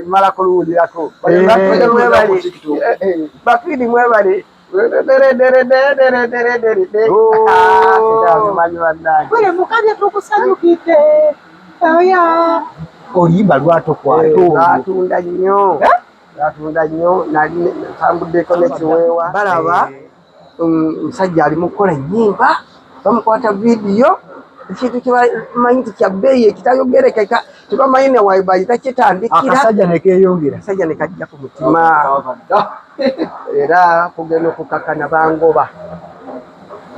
mala kuluwulirako bakidi mwebali mukabya tukusanyukidde oya oluyimba lwatokwatnatunda nnyo natunda nnyo nali ntambuddeko nekiweewa balaba omusajja ali mu kukola ennyimba bamukwata vidiyo ekintu kyebamanyi nti kya bbeeyi ekitayogerekeka tebamanyi ne wabayita kitandikiraakasajja nekeyongera akasajja nekajja ku mutima era kugenda okukakana bangoba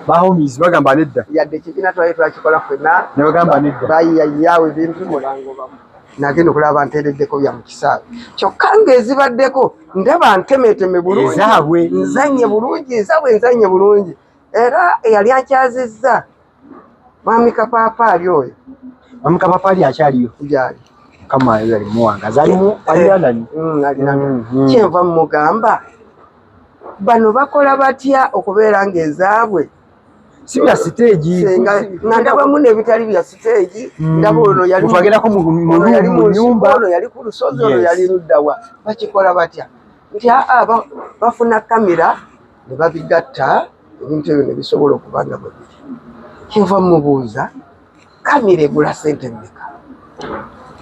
bahomis bagamba nedda yadde ekibiina twali twakikola fena nebagamba nedda bayiyayawo ebintu mulangobamu nagenda okulaba nteereddeko bya mu kisaawe kyokka ng'ezibaddeko ndaba ntemeeteme bulungi ezaabwe nzanye bulungi ezaabwe nzanye bulungi era eyali akyazizza mwami kapaapaali oyo mwami kapaapaali akyaliyo gyali mukama yo yali muwanga zalimu eh, eh, alianani mm, mm, mm. kyenva mugamba bano bakola batya okubeera ng'ezaabwe si bya siteegi nga ndabamu n'ebitali bya siteegi mm. ndaba ono yalitwagerako yali mu nyumba ono yali ku lusozi ono yali luddawa bakikola batya nti aa bafuna kamera ne babigatta ebintu ebyo ne bisobola okuba nga bwe biri kyova mubuuza kamera egula sente mmeka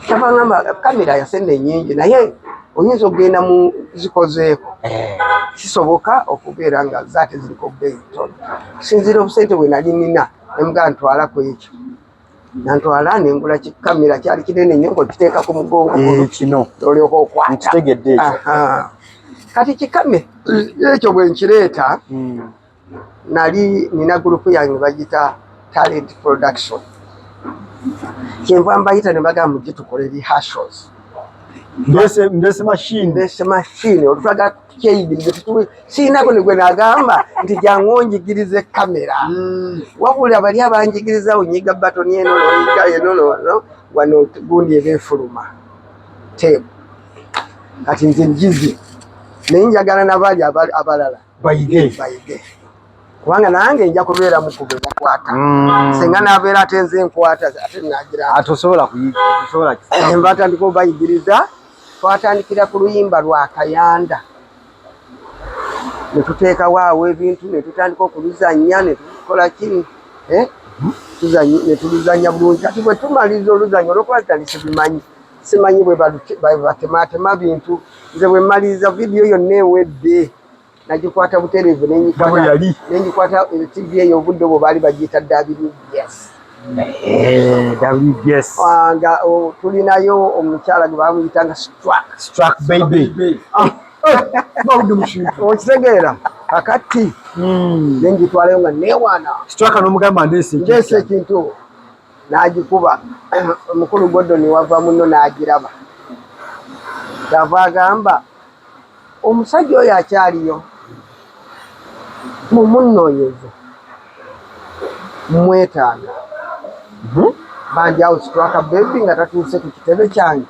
kyavangamba kamera yasente enyingi naye oyinza okugenda mu zikozeeko eh. kisoboka okubeera nga zaate ziriko bbeeyi ntono sinziira obusente bwe nali nina nemugaa ntwala ku ekyo nantwala nengula kikamera kyali kinene nyo ngokiteeka ku mugongo eh, kino olyoka okwata kati kikame ekyo bwenkireeta hmm. nali nina gurupu yange bagita talent production kyenva mbayita ne bagamba mujje tukole rehearsals mbese mbese machine mbese machine olutwaga tukyeyigirize tutuwe siinako negwe nagamba nti jangu onjigirize kamera mm. wabula bali abanjigiriza onyiga batoni eno noyiga eno nono wano gundi eba efuluma tebu kati nze njize naye njagala nabali abalala bayige bayige kubanga nange nja kubeera mukube bakwata mm. singa nabeera ate nze nkwata ate nagira atosobola kuyisobola eh, mbatandika obayigiriza twatandikira ku luyimba lwa kayanda netuteekawo awo ebintu netutandika okuluzanya netukola kini eh? mm-hmm. netuluzanya bulungi ati bwetumaliza oluzanya olwokuba tutandise bimanyi simanyi bwe batemaatema bintu nze bwe mmaliriza vidiyo yonna ewedde nagikwata butereevu nengikwata eh, tv eyo obudde obwo baali bagiyita wbs eh, wbs ah, nga oh, tulinayo omukyala gwe bamuyitanga strak baby ah. okitegeera kakati hmm. nengitwalayo nga newaana strak nomugamba ndeese ekintu n'agikuba omukulu Gordon wava munno n'agiraba kyava agamba omusajja oyo akyaliyo mumunnoonyeze mwetaaga hmm? banjawo situaka bebi nga tatuuse ku kitebe kyange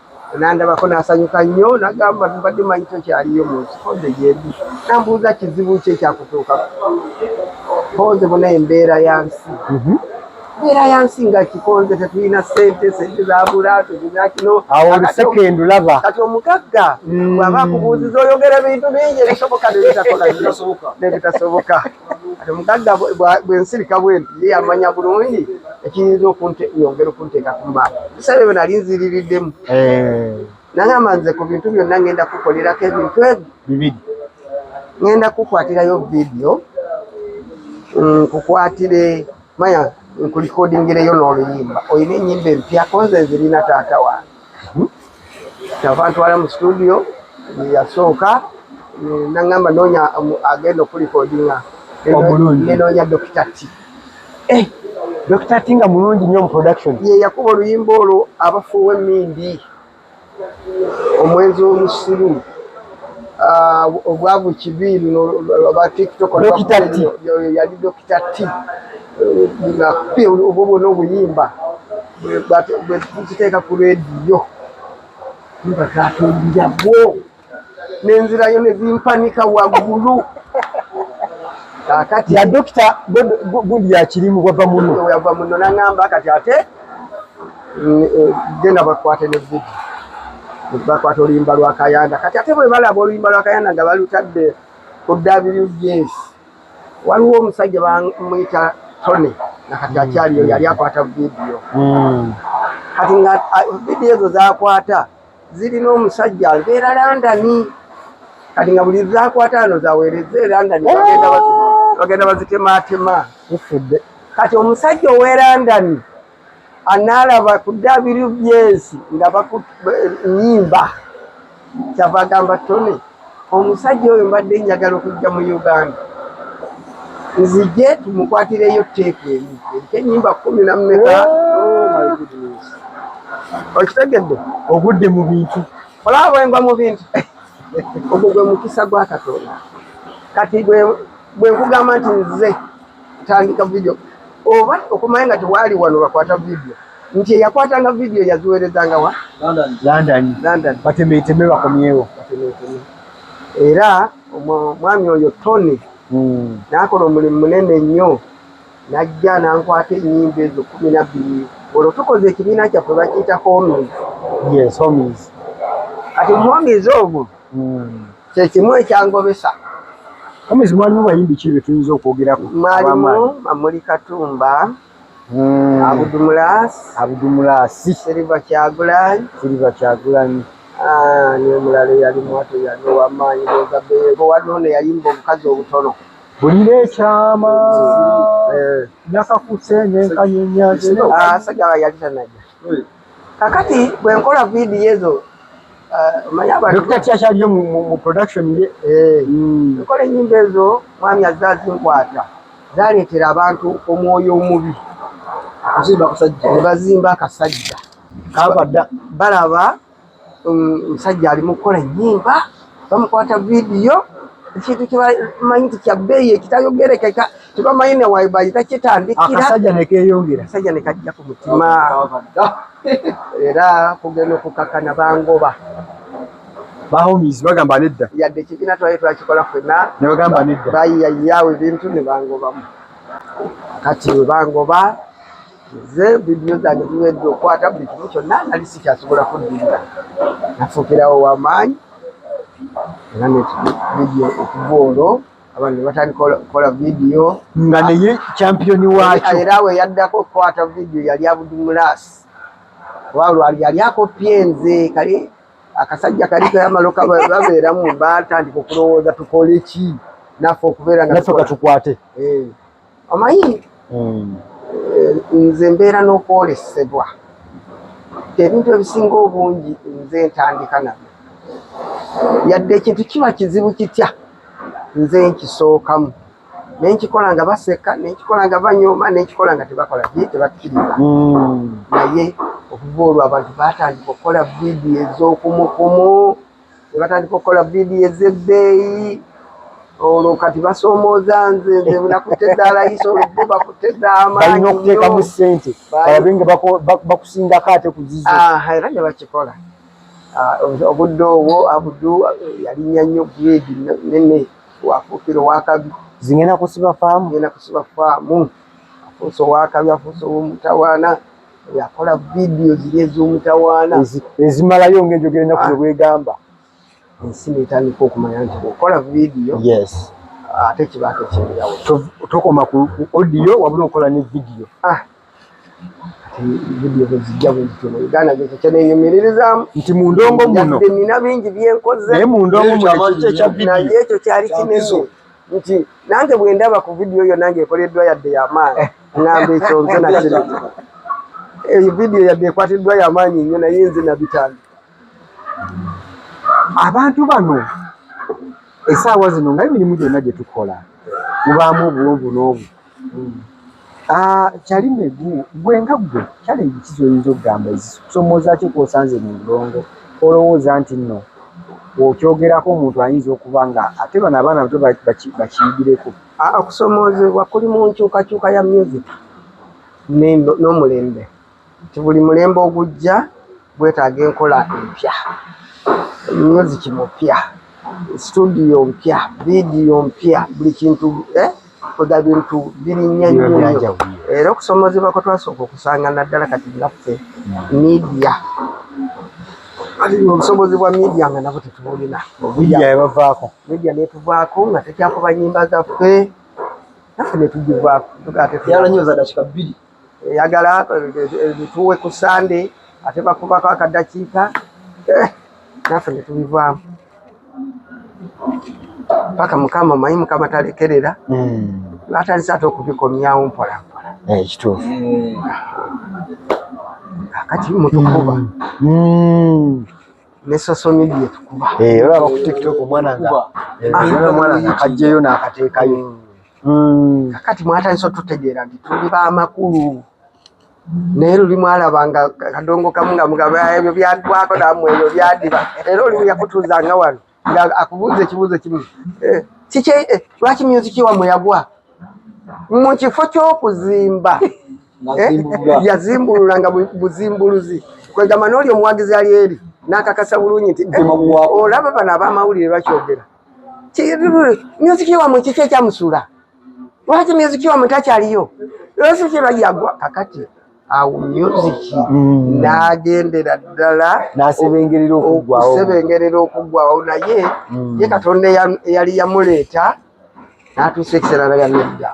nandabako nasanyuka nnyo nagamba mbadde manyi tokyaliyo munsikodde gyendi nambuuza kizibu kye kyakutuuka konze bona embeera ya nsi mhm. embeera ya nsi nga kikonze tetulina sente sente zabula tulina kino awosekendulaba kati omugagga mm. bwaba akubuuziza oyogera ebintu bingi ebisoboka nebitasoboka kati omugagga bwensirika bwenti ye yamanya bulungi ekiyinza okunyongera okunteeka ku mbaala bisale byo nali nziririddemu eh. nagamba nze ku bintu byonna ngenda kukolerako ebintu ebyo bibiri ngenda kukwatirayo vidiyo mm, nkukwatire maya nkulikodingireyo n'oluyimba olina enyimba empya konze nzirina taata wange kyava hmm? ntwala mu situdiyo yasooka nangamba noonya um, agenda okulikodinga nenoonya dokita ti eh, dokita ti nga mulungi nnyo mu production ye yakuba oluyimba olwo abafuuwa emindi omwenzi w'omusiru ah, obwavu kibi batiktokyali dokita ti eh, obwo bwona obuyimba bwe tukiteeka ku rediyo nga katumbira bwo nenzirayo nezimpanika waggulu kakati ya dokita gundi yakirimu wava muno wava muno nangamba kati ate mm, eh, genda bakwate ne vidi bakwata oluyimba lwakayanda kati ate bwe balaba oluyimba lwakayanda nga balutadde ku wbs waliwo omusajja bamuyita tony nakati hmm. akyaliyo yali akwata vidiyo hmm. kati nga vidiyo ezo zakwata zirina omusajja abeera landani kati nga buli zakwata ano zawereza e landani bagenda oh! bazitematema kati omusajja owe landani anaalaba ku ddaabiri ly'ensi nga bakunyimba kyava agamba tone omusajja oyo mbadde njagala okujja mu uganda nzije tumukwatireyo teeku emu eriko enyimba kumi namumeka oh okitegedde ogudde mu bintu olaba bwengwa mu bintu ogwo gwe mukisa gwa katonda kati bwenkugamba nti nze tandika video oba okumanya nga tewaali wano bakwata video nti eyakwatanga video yaziweerezanga wa london batemeeteme bakomyewo era omwami oyo tony hmm. nakola omulimu munene nnyo najja nankwata enyimba ezo kumi nabbiri olwo tukoze ekibiina kyaffe bakiyita homies kati homies ogwo hmm. kyekimu ekyangobesa omwezi mwalimu bayimbi ki betuyinza okwogerako mwalimu mamuli katumba hmm. abudumulas abudumulasi siriva kyagulanyi siriva kyagulanyi ah, niyo mulala eyali mwato yali owamaanyi oza beego waliwo neyayimba obukazi obutono bulira ekyama eh. nakakusenenkanyenyaasajja yali tanaja kakati bwe nkola vidiyo ezo omanyabakyaliyo eh, mu production ye eh. hmm. nkola enyimba ezo mwami azze azinkwata zaleetera abantu omwoyo omubi bazimba akasajja balaba omusajja ali mu kukola ennyimba bamukwata vidiyo ekintu kyebamanyi nti kya bbeeyi ekitayogerekeka tebamanyi ne wabayita kitandikiraakasajja nekeyongera akasajja nekajja ku mutima era kugenda okukakana bangoba bahomis bagamba nedda yadde ekibiina twali twakikola fena nebagamba nedda bayiyayawo ebintu nebangobamu kati webangoba nze vidiyo zange ziwedde okukwata buli kimu kyonna nali sikyasobola kuddirira nafuukirawo wamaanyi era nekividiyo okuva olwo abantu nebatandika okukola vidiyo nga naye kyampiyoni wakyo era we yaddako okukwata vidiyo yali abudumulaasi oba lwali yali akoppye nze kale akasajja kali kayamalo babeeramu batandika okulowooza tukole ki naffe okubeera nga tukwate eh. omanyi hmm. eh, nze mbeera n'okwolesebwa ebintu ebisinga obungi nze ntandika nabyo yadde ekintu kiba kizibu kitya nze nkisookamu nenkikola nga baseka nenkikola nga banyooma nenkikola nga tebakola ye tebakkiriza hmm. naye okuva olwo abantu batandika okukola vidiyo ez'okumukumu ne batandika okukola vidiyo ez'ebbeeyi olwo kati basoomooza nze nze nakutte daalayisa olubbo bakutte daamaanyibalina okuteekamu ssente balabe nga bakusingako ate kuzizo ah, era ne bakikola ah, obudde obwo abudu yalinya nnyo gredi nene wafuukira owakabi zingenda kusiba faamu genda kusiba faamu afuuse owakabi afuuse owomutawaana yakola vidiyo ziri ez'omutawaana ezimalayo ng'enjogera ennaku ah. bwegamba ensi netandika okumanya nti okola vidiyo ate kiba tekyebirawo tokoma ku odiyo wabula okola ne vidiyo ah. vidiyo bwezijja bwezityo mu uganda gekyo kyenenyumiririzaamu nti mu ndongo muno nina bingi byenkoze naye mu ndongo muno ekyo kyali kinene nti nange bwe ndaba ku vidiyo yonna ng'ekoleddwa yadde yamaanyi ng'amba ekyo nze nakiri eyo vidiyo yadde ekwatiddwa yamaanyi nnyo naye nze nabitambi abantu bano esaawa zino nga emirimu gyonna gye tukola mubaamu obuwonvu n'obu Ah, kyali megu gwe nga gwe kyali ebiki zoyinza okugamba ezisomoza ki kwosanze mu ndongo olowooza nti nno okyogerako omuntu ayinza okuba nga ate bano abaana bato bakiyigireko ah, okusomoozebwa kuli mu nkyukakyuka ya myezi n'omulembe nti buli mulembe ogujja gwetaaga enkola empya, myuziki mupya, situdiyo mpya, vidiyo mpya, buli kintu eh? kwega bintu birinya nnyo era okusomozebwa kwe twasooka okusanga naddala kati ngaffe midia obusobozi bwa midia nga nabo tetubulina midia netuvaako nga tekyakuba nyimba zaffe naffe netugivaako eyagala bituwe ku sande ate bakubako akadakiika eh, naffe netubivaamu paka mukama omanyi mukama talekerera hmm. batandise ate okubikomyawo mpolampola eh, ekituufu kati mutukuba hmm. ne social media tukuba eh, olaba ku tiktok omwana nga omwana nga kajjeyo n'akateekayo hmm. mm. kakati mwatandise otutegeera nti tuli bamakulu naye luli mwalaba nga kadongo kamu nga mugaba ebyo byagwako namwe ebyo byadiba era olimu yakutuuza nga wano nga akubuuza ekibuuzo kimu eh, kiki eh, lwaki myuziki wamwe yagwa mu kifo ky'okuzimba eh, yazimbulula nga buzimbuluzi kwegamba n'oli omuwagizi ali eri n'akakasa bulungi nti olaba bano abamawulire bakyogera myuziki wamwe kiki ekyamusula lwaki myuziki wamwe takyaliyo lwaki kye bayagwa kakati awo myuziki mm. nagendera ddala nasebengerera okuggwawo okusebengerera okuggwawo naye mm. ye katonda eyali yamuleeta natuusa ekiseera nayanedda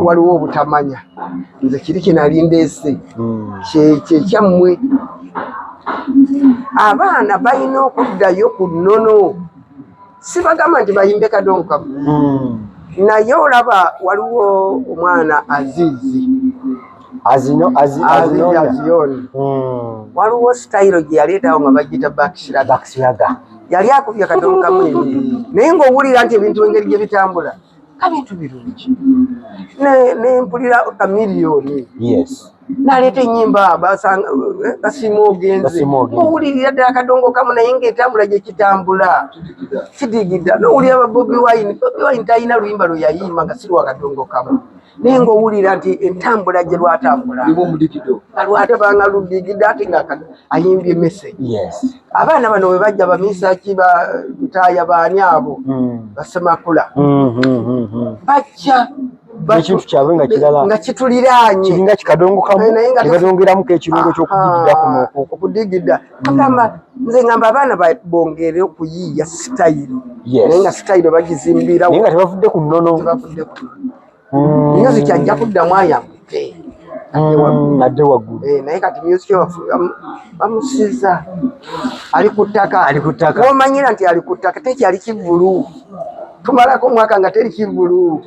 waliwo obutamanya nze kiri kyenali ndeese hmm. kyekyammwe abaana balina okuddayo ku nnono sibagamba nti bayimbe kadonkamu hmm. naye olaba waliwo omwana azizi aziyoni hmm. waliwo sitayiro gye yaleetawo nga bagita bakisiraga yali akubye kadonkamu naye ngaowulira nti ebintu engeri gye bitambula kabintu birungi nempulira kamiliyoni naleeta enyimba basima ogenze owulirira ddala kadongo kamu naye ngaetambula gyekitambula sidigida nowulira babobi wine bobi wine talina luyimba lweyayimba nga siri wakadongo kamu naye ng'owulira nti entambula gye lwatambula nga lwatabanga ludigidde ate nga ayimbye mese abaana bano bwe bajja bamiisaki bataaya baani abo hmm. basemakula hmm, hmm, bajja ekintu kyabwe nga kirala nga kituliraanye kiringa kikadongo kamu ne kadongeramu k'ekirungo ky'okudigidda kuno okudigidda agamba nze ngamba abaana bongere okuyiiya sitayiro naye nga sitayiro bagizimbirawo nga tebavudde ku nnono tebavudde ku nnono music ajja kuddamu ayambuke mm, adde waggulu eh, naye kati music bamusiza ali ku ttaka ali ku ttaka womanyira nti ali ku ttaka tekyali kivulu tumalako omwaka nga teri kivulu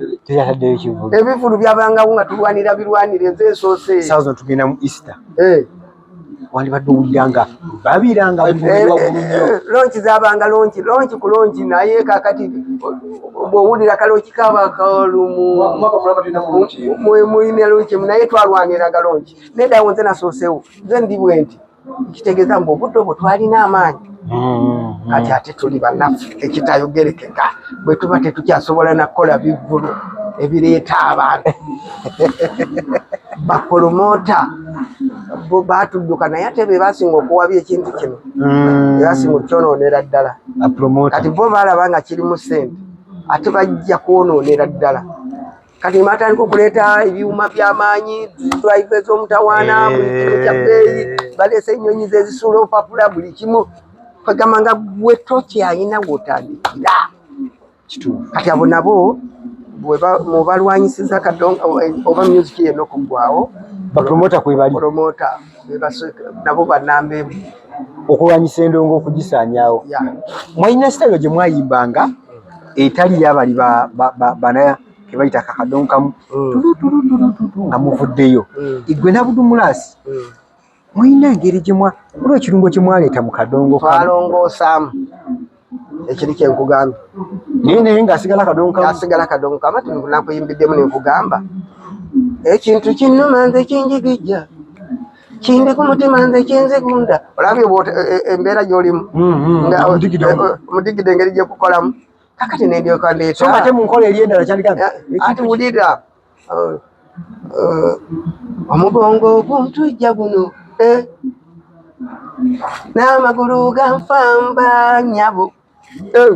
ebivulu byabangawo nga tulwanira birwanire nze esoose tugenda mu easter eh. wandibadde owulira nga babira nga eh, eh, eh, lonki zabanga lonki lonki ku lonki naye kakati bwowulira kalonki kaba kalumu muyina lonki naye twalwaniraga lonki neddawo nze nasoosewo nze ndi bwenti nkitegeeza mbu obudde obwo twalina amaanyi mm-hmm. kati ate tuli banafu ekitayogerekeka bwetuba tetukyasobola nakukola bivulu ebireeta abantu bapolomota batudduka naye ate bebasinga okuwabya ekintu kino mm. bebasinga okukyonoonera ddala kati bo balaba nga kirimu sente ate bajja kwonoonera ddala kati nebatandika okuleeta ebyuma byamaanyi drive ez'omutawaana eh. buli kimu kya bbeeyi baleese ennyonyi zezisuula obupapula buli kimu kwegamba nga gwe tokyalina gwotandikira kati abo nabo mubalwanyisiza kadonga oba music yenokugwawo bapromota kwebali nabo banamba emu okulwanyisa endongo okugisaanyawo mwalina sitayiro gye mwayimbanga etali yabali bana kebayita kakadonkamu mm. tulutulutulututu nga muvuddeyo mm. igwe nabudumulaasi mm. mulina engeri gyemwa olwo ekirungo kyemwaleeta mu kadongo twalongoosamu ekiri kye nkugambye naye naye ng'asigala kadongo kamu asigala kadongo kamu ati nakuyimbiddemu ne nkugamba ekintu kinnuma nze kinjigijja kindi ku mutima nze kinzigunda olabye e, e, embeera gy'olimu mm, mm, nga omudigidde e, engeri gye kukolamu kakati nendyoka ndeeta so nga te mu nkola eri endala kyali kati eh, wulira Oh, oh, omugongo oguntujja guno eh, n'amagulu ganfamba nyabo eh,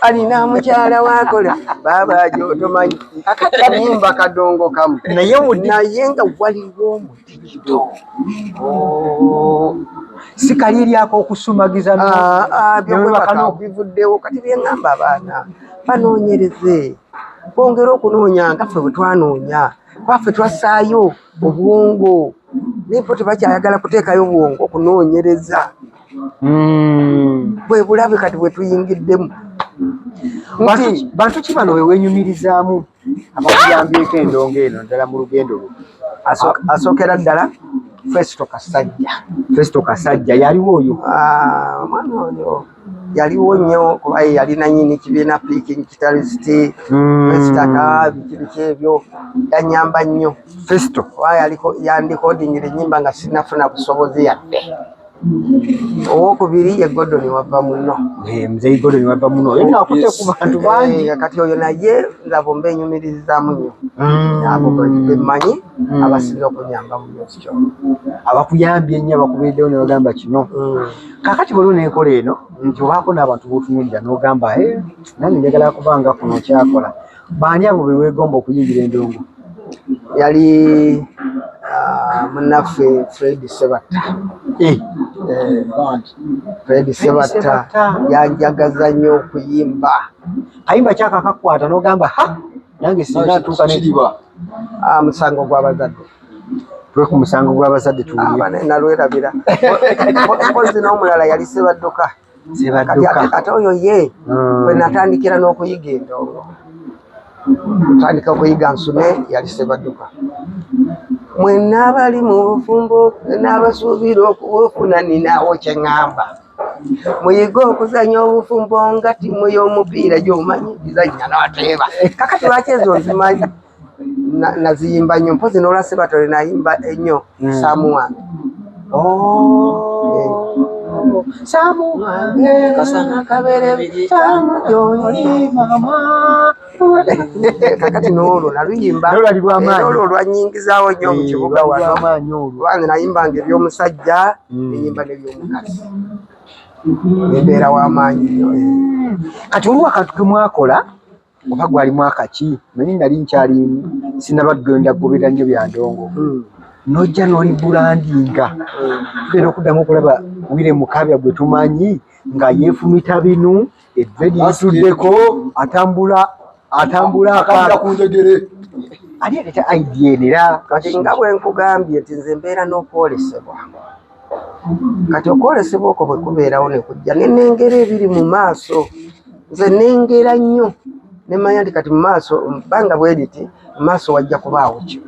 alina mukyala wakola baaba ajo otomanyi kakati alimba kadongo kamu naye wuli naye nga waliwo omutindo sikaliryako okusumagiza byobwebakana okubivuddewo kati byeŋamba abaana banoonyereze bongere okunoonya nga ffe bwe twanoonya kuba ffe twassaayo obwongo naye bo tebakyayagala kuteekayo bwongo okunoonyereza bwe bulabe kati bwe tuyingiddemu nti bantu ki bano bewenyumirizaamu abakuyambyeko endongo eno ddala mu lugendo lwo asookera ddala festo kasajja festo kasajja yaliwo oyo omwana oyo yaliwo nnyo kuba ye yali nanyini kibiina piking kitalisiti mm. ekitaka biki biki ebyo yanyamba nnyo festo kuba yaliko yandikodingira ennyimba nga sinafuna busobozi yadde owokubiri ye godoni wava muno eh, mzei godoni wava muno oyo nakute ku bantu bangi eh, kati oyo naye laba omba enyumirizamu nnyo mm. abo bemanyi mm. abasinza okunyamba mu music abakuyambye nnyo abakubiriddewo nebagamba kino mm. kakati waliwo nenkola eno nti obaako n'abantu botunulira n'ogamba e eh, nange njagala kuba nga kuno kyakola baani abo bewegomba okuyingira endongo yali ah, munaffe fred sebatta eh. Eh, fred sebatta yanjagaza nnyo okuyimba ayimba kyakakakwata n'ogamba ha nange singa atuuka nekiba ah, musango gw'abazadde twe ku musango gw'abazadde tuwulnalwerabira ah, mpozi n'omulala yali sebadduka ate oyo ye hmm. bwe natandikira n'okuyiga endongo tandika okuyiga nsume yali sebadduka mwenna abali mu bufumbo n'abasuubira okubufuna ninawo kye ŋŋamba muyige okuzanya obufumbo nga timu y'omupiira gyomanyi gizanya nateeba kakati lwaki ezo nzimanyi naziyimba nnyo mpozi nolwa sebatole nayimba ennyo hmm. samu wange samu wange kasana kabere samu yonyi mama kakati n'olwo naluyimba olwo olwanyingizaawo nnyo mu kibuga wano wange nayimbanga eby'omusajja mm. neyimba neby'omukazi embeera w'amaanyi nyo eh. kati oluwa kantu kemwakola oba gwali mwaka ki manyi nali nkyali sinaba genda gobera nnyo byandongo mm. nojja noli bulandinga tugenda mm. okuddamu okulaba wire mukabya gwe tumanyi nga yefumita binu Eddredi lituddeko atambula atambula akanda ku njegere ali aleta idea eno era kati nga bwe nkugambye nti nze mbeera n'okwolesebwa kati okwolesebwa okwo bwe kubeerawo ne kujja ne nengera ebiri mu maaso nze nengera nnyo ne mmanya nti kati mu maaso bbanga bwe liti mu maaso wajja kubaawo kyo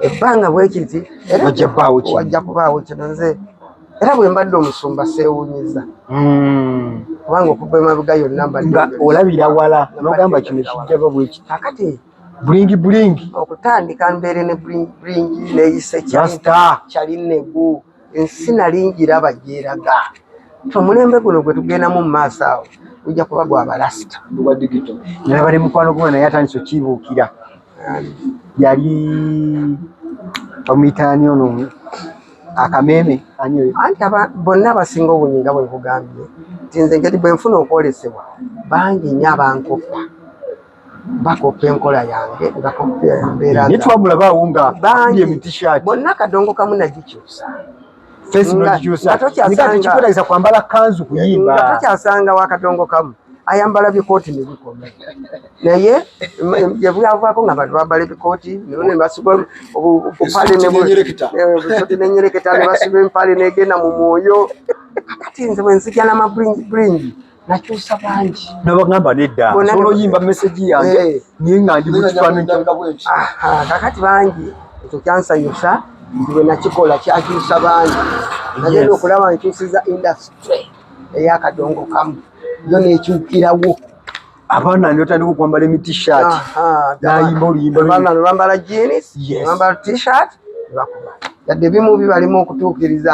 ebbanga bwekiti era wajja kubaawo kino nze era bwe mbadde omusumba seewuunyiza hmm. kubanga okuva emabega yonna nga olabira wala nogamba kino kijjaba bwekiti kakati bulingi bulingi okutandika mbeere ne bulingi neyise kyali negu ensi nali ngiraba gyeraga omulembe guno gwe tugendamu mu maaso awo gujja kuba gwa balasita nalaba ne mukwano gwe naye atandise okibuukira yali omuyitaani ono akameeme anti bonna abasinga obunyi nga bwenkugambye nti nze engeri bwenfuna okwolesebwa bangi nyo abankoppa bakoppa enkola yange nga koppa embeera naye twamulabaawo nga bonna kadongo kamu nagikyusa tekikwetegesa kwambala kanzu kuyimba nga tokyasanga wa kadongo kamu ayambala bikooti nebikome naye gyebwavaako nga bantu bambala ebikooti nebasiba obupale nenyereketa nebasiba empale negenda mu mwoyo kati nze bwenzijana maburingi nakyusa bangi nabagamba nedda solo yimba message yange eh. niye nga ndi mukifananyi kakati bangi ekyo kyansanyusa ndiwe nakikola kyakyusa bangi nagenda okulaba nkyusiza industry eyakadongo kamu yo nekyukirawo abaana notandika okwambala emitishat nayimba oluyimbaambala jeans bambala tshirt bakuba yadde bimu bibalimu okutuukiriza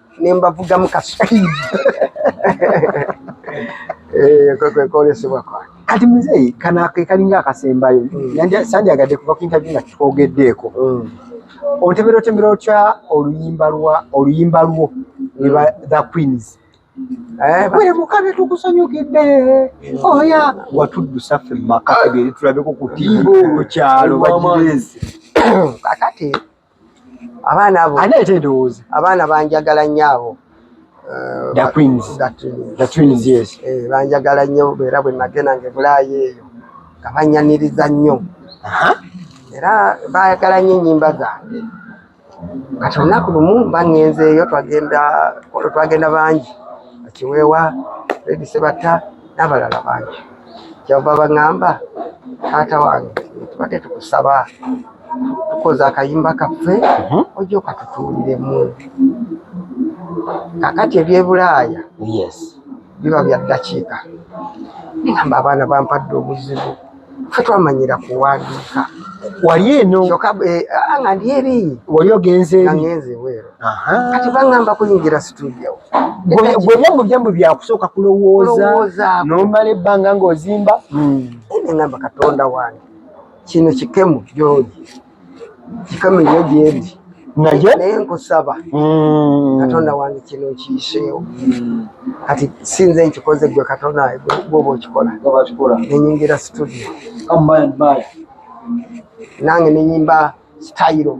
ne mbavugamu ka speed eh, kwekwolesebwa kwange kati muzeeyi kana kekalinga akasembayo hmm. sandyagadde kuva ku interview nga kitwogeddeko hmm. ontebera otembera otya oluyimba lwa oluyimba lwo neba hmm. the queens eh, bwere mukabe tukusanyukidde oya watuddusa ffe mumaka ebyeritulabeko kutimbo ku kyalo bagireezi kakati abaana abo ani ate ndowooza abaana banjagala nnyo abo eh, banjagala nnyo era bwe nagenda nga ebulaayi eyo nga banyaniriza nnyo era baagala nnyo ennyimba zange kati olunaku lumu mba ngenzeeyo twagenda twagenda bangi akiweewa redi sebatta n'abalala bangi kyava baŋŋamba taata wange tubadde tukusaba tukoze akayimba kaffe mhm. ojja okatutuuliremu kakati ebyebulaaya biba bya ddakiika namba abaana bampadde obuzibu fe twamanyira kuwandiika wali eno eh, ah, nga ndi eri wali ogenze eri kati baŋŋamba kuyingira situdiyo gwe byangu byangu byakusooka kulowooza nomala ebbanga ng'ozimba hmm. neŋŋamba katonda wange kino kikemu gyogi kikemu nyo gyendi naye naye nkusaba hmm. katonda wange kino nkiyiseewo hmm. kati sinze nkikoze gwe katonda gwoba okikola nenyingira situdiyo nange nenyimba sitayiro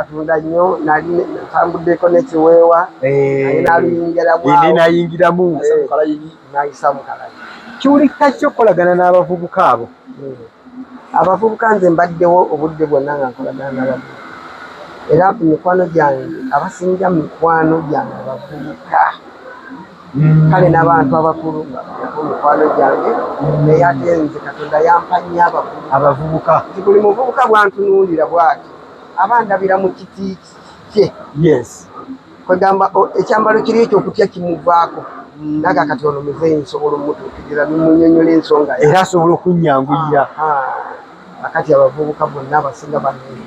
atunda nnyo nali tambuddeko nekiweewa eh. nayingiramu eh, nayisa mukalayi kiwulikika ki okukolagana n'abavubuka abo hmm. abavubuka nze mbaddewo obudde bwonna nga nkolagana n'abavubuka era ku mikwano gyange abasinja mu mikwano gyange abavubuka hmm. kale n'abantu abakulu ku mikwano gyange naye ate nze katonda yampa nnyo abavubuka nti buli muvubuka bwantunuulira bwati aba ndabira mu kiti kye yes kwegamba ekyambalo kiri ekyo okutya kimuvaako mm. naga kati ono muzeeyi nsobola omutuukirira nemunyonyola ensonga era asobola okunyanguyira akati abavubuka bonna abasinga banene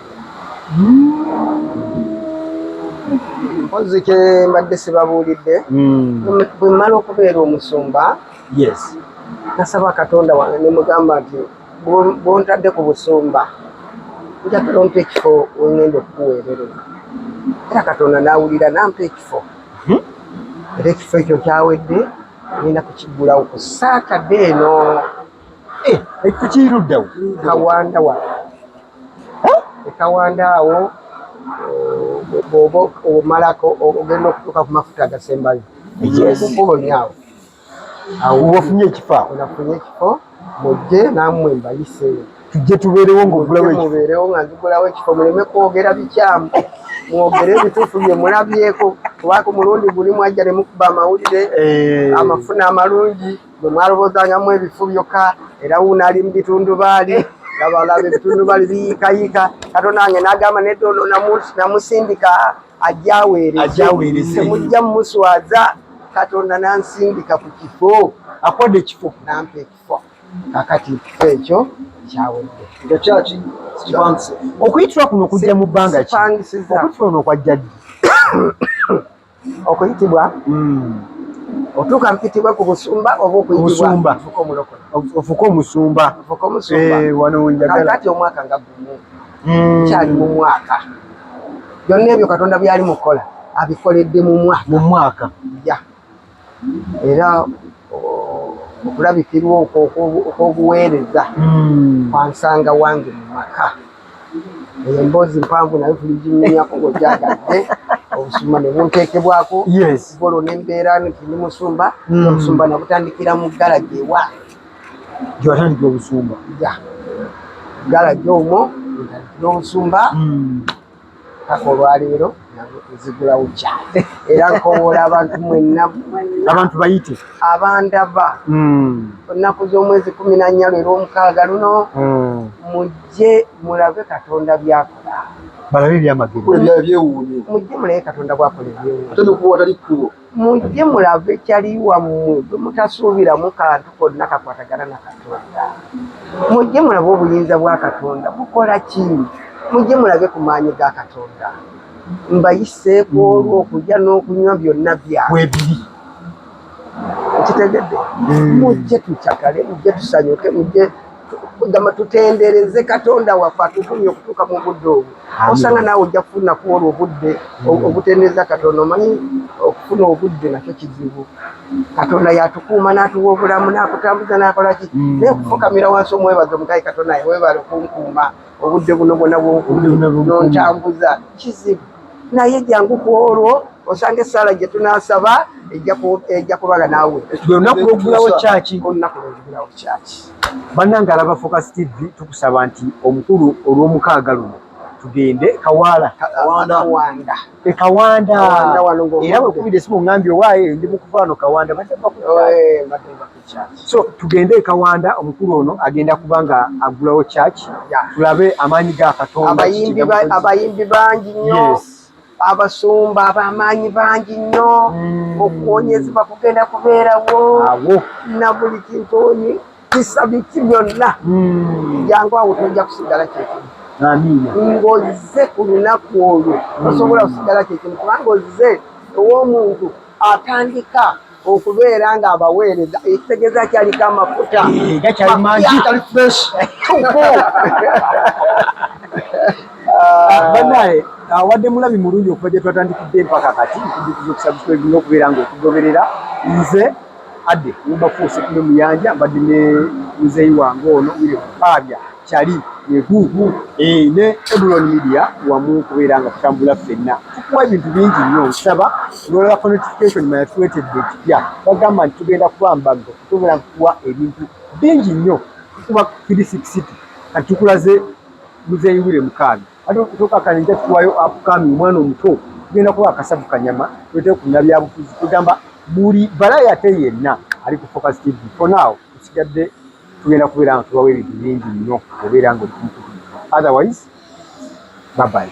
mpozi ke mbadde sibabuulidde mm. bwemmala okubeera omusumba yes nasaba katonda wange nemugamba nti bwontadde ku busumba njagala ompa ekifo wengenda okukuweererera era katonda nawulira nampa ekifo mhm. era ekifo ekyo kyawedde ngenda kukiggulawo ku saatadde eno eh, ekifo kiruddawo kawanda wa ekawanda awo bwoba omalako ogenda okutuuka ku mafuta agasembayo yes kubonya awo wafunye ekifo nafunye ekifo mujje namwe mbayise tujje tubeerewo ngaogulawomubeerewo nga nzigulawo ekifo muleme kwogera bikyamu mwogere ebituufu bye mulabyeko kubanga omulundi guli mwajja ne mukuba amawulire eh. amafuna amalungi bwe mwalobozangamu ebifu byokka era wuuno ali mu bitundubaali labalaba ebitundubaali biyiikayiika katonda wange n'agamba nedda ono namusindika ajaweereze temujja mumuswaza katonda nansindika ku kifo akwade ekifo nampa ekifo kakati ekifo ekyo kyawedde nga kyaki kipangise okuyitira kuno kujja mu bbanga ki okuyitira ono okwajja ddi okuyitibwa hmm. otuuka mpitibwa ku busumba oba okuyitibwa ofuka omusumba eh, wano wenjagala kakati omwaka nga gumu mm. kyali mu mwaka byonna ebyo katonda byali mukukola abikoledde mu mwaka mu mwaka ya era okulabikirwa okwo okwobuweereza mm. kwansanga wange mu maka eyo emboozi mpanvu nayo tuli ginyumyako ngogyagadde obusumba ne bunteekebwako golo nembeera nti ndi musumba mm. obusumba nabutandikira mu galagi ewange gyewatandikira obusumba gala gyomo ntandikira obusumba hmm. paka olwaleero ezigulawo kya era nkowola abantu mwenna abantu bayite abandaba hmm. ennaku z'omwezi kumi na nnya lwera omukaaga luno hmm. mujje mulabe katonda byakola balabe ebyamagero mujje mulabe katonda bwakola ebyewuunyo Mujje mulave cali wammwe gwe mutasuubiramu kantu konna kakwatagana na Katonda. Mujje mulabe obuyinza bwa Katonda bukola ki. Mujje mulage ku maanyi ga Katonda. Mbayiseeko olwo okulya n'okunywa byonna bya. Webiri. Okitegedde? Mm. Mujje tucakale, mujje tusanyuke, mujje. gamba tutendereze katonda waffe atutumye okutuuka mu budde obwo osanga naawe ojja kufuna ku olwo obudde mm. obutendereza katonda omanyi okufuna obudde nakyo kizibu katonda yatukuuma n'atuwa obulamu n'akutambuza n'akolaki mm. naye okufukamira wansi omwebaza omugayi katonda webale okunkuuma obudde buno bwona bwonkubi nontambuza kizibu naye jangu ku olwo osanga esaala gye tunasaba ejja kubala naawe olunaku lwokugulawo kyaki olunaku lwokugulawo kyaki bannange alaba focus tv tukusaba nti omukulu olw'omukaaga luno tugende kawaala kawanda e kawanda era wekubidde simu ngambye owaaye ndi mukuvaano kawanda so tugende ekawanda omukulu ono agenda kubanga agulawo church tulabe amaanyi ga katonda abayimbi bangi nnyo abasumba abamaanyi bangi nnyo hmm. okuwonyezebwa kugenda kubeerawo na buli kintu onyi kisabiki byonna hmm. jangu awo tojja kusigala kyekimu ng'ozze ku lunaku olwo hmm. osobola kusigala kyekimu kubanga ozze ow'omuntu atandika okubeera nga abaweereza ekitegeeza kyaliko amafuta gakyali mangi kali fresh tupu Ah, banaye awadde ah, mulabi mulungi okuva gye twatandikidde empaka kati nkujukiza okusabscribe n'okubeera nga okugoberera nze adde mubafuuse kume muyanja mbadde ne muzeeyi wange ono wire kupaabya Chali yegugu eh, ne Eburon Media wamu kubeera nga tutambula ffenna tukuwa ebintu bingi nnyo nsaba nolabako notification maya tuwetedde ekipya bagamba nti tugenda kuba mbago tubeera nkukuwa ebintu bingi nnyo tukuba kirisikisitu kati tukulaze muzeeyi wire mukaaga ate okutokakana nja tukuwayo apukami omwana omuto tugenda kuba akasavu kanyama tuletewo ku nabyabufuzi tugamba buli balaya ate yenna ali ku focus tv for now tusigadde tugenda kubeera nga tubawa ebintu bingi nnyo obeera nga otumukutu otherwise babayi